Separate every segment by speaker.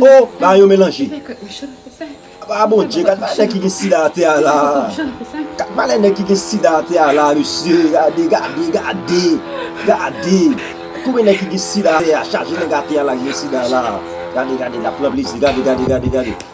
Speaker 1: Oh
Speaker 2: bagay yo melanje. Ah bon Dieu, gad valè nèg ki gen sida atè a la. Gad valè nèg ki gen sida atè a la mesye, gade, gade, gade, gade. Konbyen nèg ki gen sida atè a, chaje nèg atè a la ki gen sida la. Gade, gade, lap pran plezi, gade, gade, gade, gade.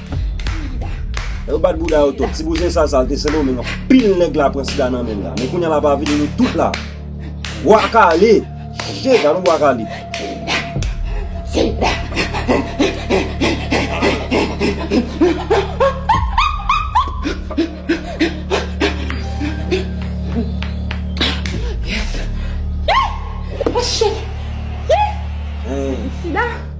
Speaker 2: Yo bat bouda yo tou. Ti bouzen sa sal te sendomeng an. Pil neg la pran sida nan menl la. Men kounya la pa vini nou tout la. Bwa kale. Che gade bwa kale.
Speaker 1: Yes. Yes. Oh shit. Yes. Sida.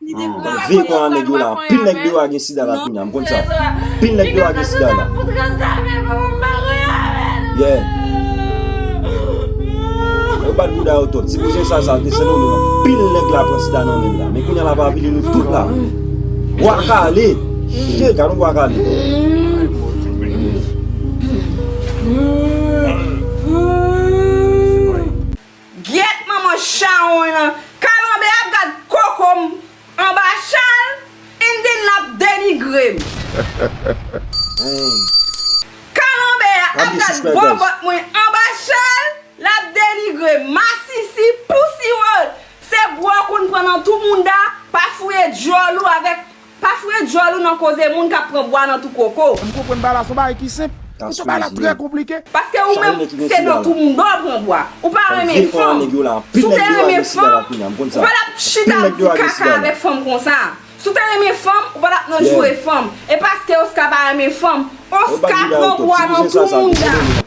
Speaker 3: Mwen vle
Speaker 2: konn a nèg yo la anpil nèg deyò a gen sida la kounya m konn sa anpil nèg deyò a gen sida la yeah yo bat bouda yo twòp ti bouzen sa sa te sènen nou anpil nèg la pran sida nan menn la men kounya lap avili nou tout la bwa kale shit gadon bwa kale
Speaker 1: Gyèt manman chawony lan kalanbe a gad kokom anba chal in then lap denigrem. Kalanbe a ap gad bòbòt mwen
Speaker 2: anba chal
Speaker 1: lap denigrem masisi pussy world se bwa w konn pran nan tou mounda pa fouye dyòl ou avèk Pa fre djòl ou nan koze moun kap pran bwa nan tou koko. M konprann bagay la son bagay
Speaker 4: ki senp men son bagay la trè konplike. Paske ou menm
Speaker 1: se nan tou moun dòw pran bwa. Ou pa renmen fanm. Si w
Speaker 2: te
Speaker 1: renmen
Speaker 2: fanm,
Speaker 1: ou
Speaker 2: pa tap
Speaker 1: chita
Speaker 2: ap
Speaker 1: di kaka avèk fanm konsa. Si w te renmen fanm, ou pa tap nan joure fanm. E paske Oscar pa renmen fanm, Oscar pran bwa nan tou moun da.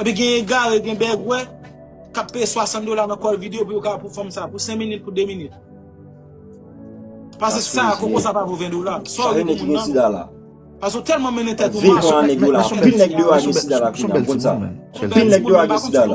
Speaker 5: Epi gen egare, gen bègwè, kap peye 60 dola nan kòl video pou yo ka pou fòm sa, pou 5 minit, pou 2 minit. Pase sa, koko sa pa pou 20 dola. Sa ou mèt gen sida
Speaker 2: la. Pase ou tèlman
Speaker 5: mennen tèt ou mal. Vin an nèg yo la,
Speaker 2: anpil
Speaker 5: nèg
Speaker 2: yo a gen sida la. Son bèl ti moun men. Anpil nèg yo a gen sida la.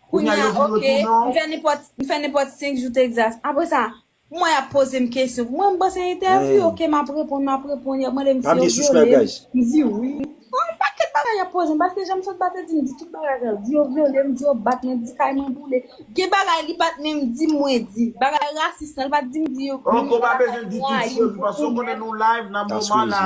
Speaker 6: Kounya yo vin retounen w. Kounya ok, m fè nenpòt 5 jou Texas. Apre sa, mwen ap poze m kesyon. Pou mwen, m panse entèvyou, ok, m ap reponn, m ap reponn. Y ap mande m si yo vyole m. M di wi. Bon, yon
Speaker 2: pakèt
Speaker 6: bagay y ap poze m. Paske jan m sot bat yo di m, di tout bagay sa yo. Di yo vyole m, di yo bat mwen, di kay mwen boule. Gen bagay li pa t menm di m mwen di. Bagay rasis lan, li pa t di m di yo. Oke, w pa bezwen di tout yo,
Speaker 4: paske w konnen nou live, n ap nòmal la.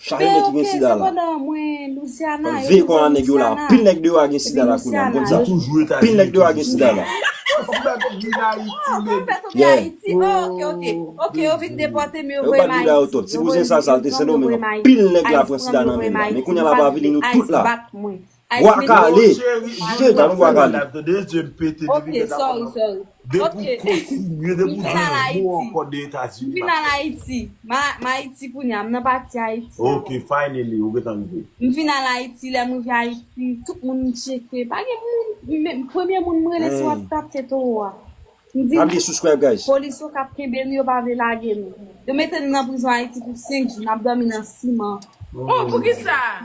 Speaker 4: Chage nèg ki gen sida la.
Speaker 2: Mwen
Speaker 6: veye kò nan nèg yo la.
Speaker 2: Anpil nèg deyo a gen sida la kounye a. M konn sa. Anpil nèg deyo a
Speaker 4: gen sida la.
Speaker 6: Yo bat bouda yo twòp. Ti
Speaker 2: bouzen sal sa l te Sendomeng anpil nèg la pran sida nan men l la. Men kounye a l ap avili nou tout la. Bwa kale, chen kale bwa kale. Ok
Speaker 6: sorry sorry
Speaker 4: ok m final ayiti m final ayiti
Speaker 6: m ayiti kounya m nan pati ayiti
Speaker 4: a m final ayiti
Speaker 6: lèm rive ayiti tout moun m tcheke pa gen moun premye moun m rele se wap tap se toro a m di nou
Speaker 2: polis yo kap kenbe nou
Speaker 6: yo pa vle lage nou yo mete nou nan prizon ayiti pou 5 jou nap domi nan siman oh poukisa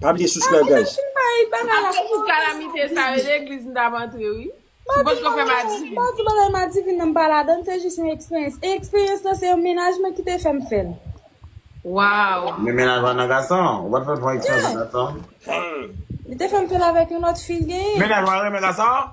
Speaker 4: Pa bliye
Speaker 2: subscribe guys. Atis pou
Speaker 3: kalamite sa yo legliz m tap antre wi. Ou potko fè madivin. Mpa di bagay madivin
Speaker 6: nan mpa ladann se jis yon eksperyans e eksperyans lan se yon mennaj mwen kite fèm fèl. Waww.
Speaker 3: Men mennaj la nan
Speaker 4: gason. Ou pat fè yon eksperyans nan gason. Li te
Speaker 6: fèm fèl avèk yon lòt fi l genyen. Mennaj ou a renmen
Speaker 4: gason?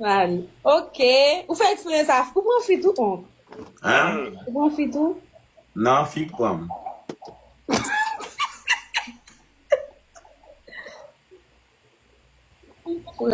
Speaker 6: Mari. Ok. Ou fè eksperyans sa. Ou pran fi tou onk? Hein?
Speaker 4: Ou pran fi tou?
Speaker 6: Nan, fi k
Speaker 4: pran m.